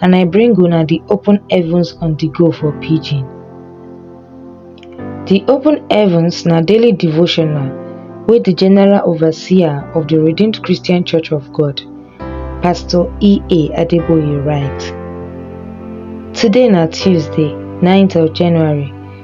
and I bring una the open heavens on the go for pidgin. The open heavens na daily devotional wey the general overseer of the Redeemed Christian Church of God, Pastor E.A. Adeboye write. Today na Tuesday, 9th of January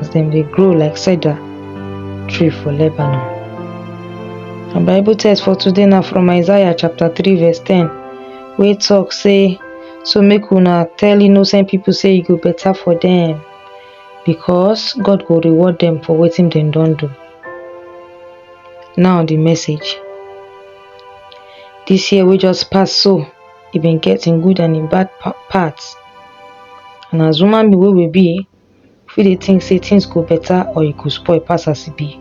as dem dey grow like cedar tree for Lebanon. Our Bible text for today na from Isaiah chapter 3 verse 10 wey talk say so make una tell innocent people say e go better for them because God go reward them for wetin dem don do. Now the message. This year wey just pass so e been get im good and im bad pa- parts and as human being wey we be You fit dey think say things go better or e go spoil pass as e be.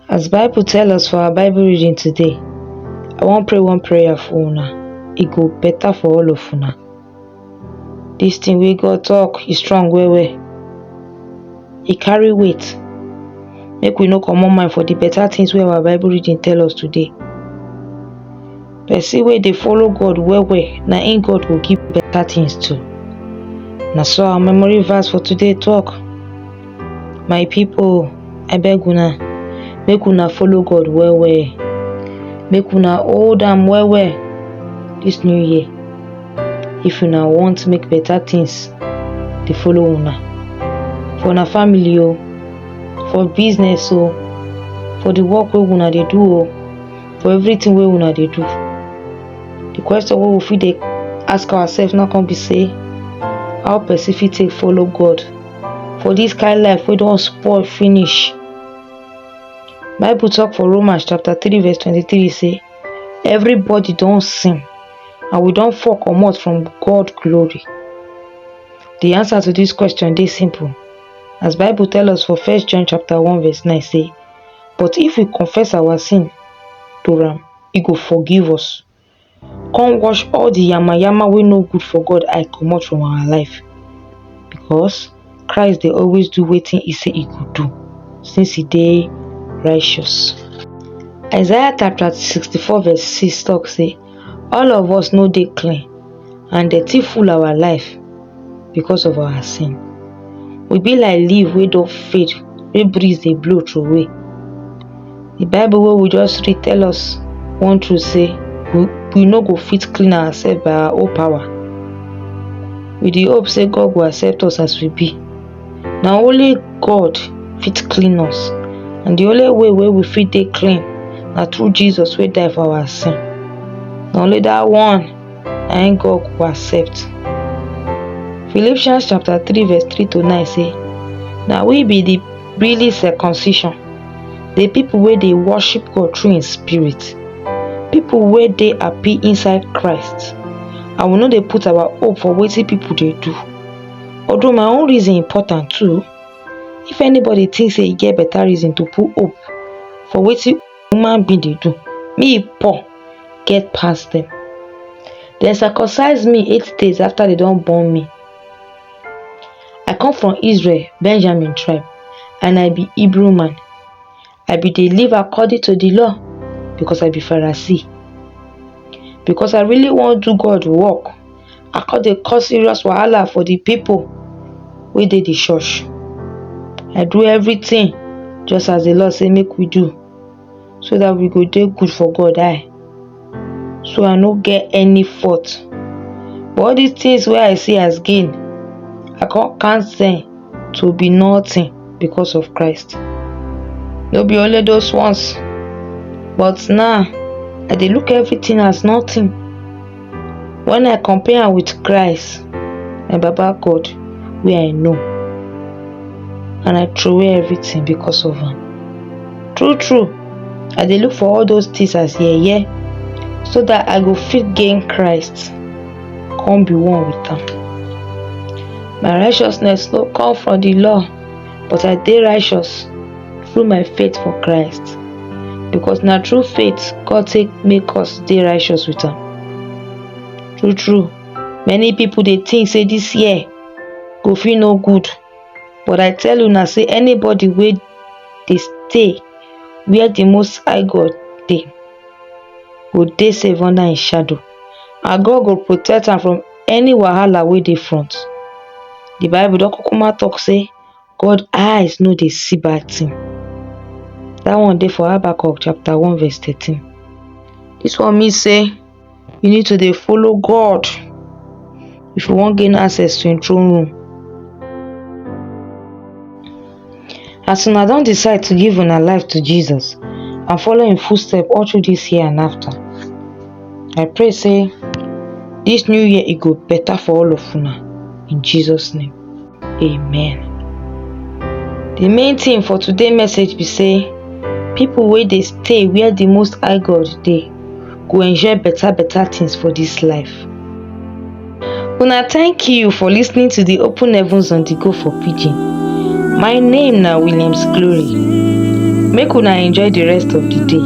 As Bible tell us for our Bible reading today, I wan pray one prayer for una. E go better for all of una. This thing wey God talk, e strong well well. E carry weight. Make we no comot mind for the better things wey our Bible reading tell us today. Person wey dey follow God well well, na im God go give better things to. Na so our memory verse for today talk. My people, I beg una, make una follow God well well. Make una hold am well well this new year. If una want make better things dey follow una. For una family o, for business o, for the work wey una dey do o. for everything wey una dey do the question wey we fit dey ask ourselves now come be say how person fit take follow god for this kind life wey don spoil finish bible talk for romans chapter 3 verse 23 say everybody don sin and we don fall comot from god glory the answer to this question dey simple as bible tell us for first john chapter 1 verse 9 say But if we confess our sin to am, e go forgive us. Come wash all the yamayama wey no good for God eye comot from our life. Because Christ dey always do wetin e say e go do since e dey righteous. Isaiah chapter sixty-four verse six talk say All of us no dey clean and dirty full our life because of our sin. We be like leaf wey don fade wey breeze dey blow throway. The bible wey we just read tell us one truth sey we we no go fit clean ourself by our own power. We dey hope sey God go accept us as we be. na only God fit clean us and the only way wey we fit dey clean na through Jesus wey die for our sin na only that one na im God go accept Philippians chapter 3 verse 3 to 9 say na we be the really circumcision the people wey dey worship God through im spirit people wey dey happy inside Christ and we no dey put our hope for wetin people dey do although my own reason important too if anybody think say e get better reason to put hope for wetin human being dey do me poor get pass them dem circumcise me eight days after they don born me i come from israel benjamin tribe and i be hebrew man I be dey live according to the law because I be Pharisee. Because I really wan do God work, I come dey cause serious wahala for the people wey dey the church. I do everything just as the law say make we do so that we go dey good for God eye. so i no get any fault but all these things wey i see as gain i come count them to be nothing because of christ no be only those ones but now i dey look everything as nothing when i compare am with christ my baba god wey i know and i throway everything because of am true true I dey look for all those things as yeye so that I go fit gain Christ, come be one with am. My righteousness no come from the law, but I dey righteous through my faith for Christ. Because na through faith God take make us dey righteous with am. True true, many people dey think say this year go fit no good But I tell una say anybody wey dey stay where the Most High God dey go dey safe under him shadow and God go protect am from any wahala wey dey front. The Bible don kukuma talk say God eyes no dey see bad thing. That one dey for Habakkuk chapter one verse thirteen. This one mean say you need to dey follow god if you wan gain access to him throne room as una don decide to give una life to jesus and follow him footstep all through this year and after i pray say this new year e go better for all of una in jesus name Amen. The main thing for today message be say people wey dey stay where the most high God dey go enjoy better better things for this life. Una thank you for listening to the Open Heavens on the Go for Pidgin. My name na Williams Glory. Make una enjoy the rest of the day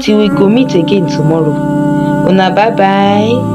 till we go meet again tomorrow. Una bye bye.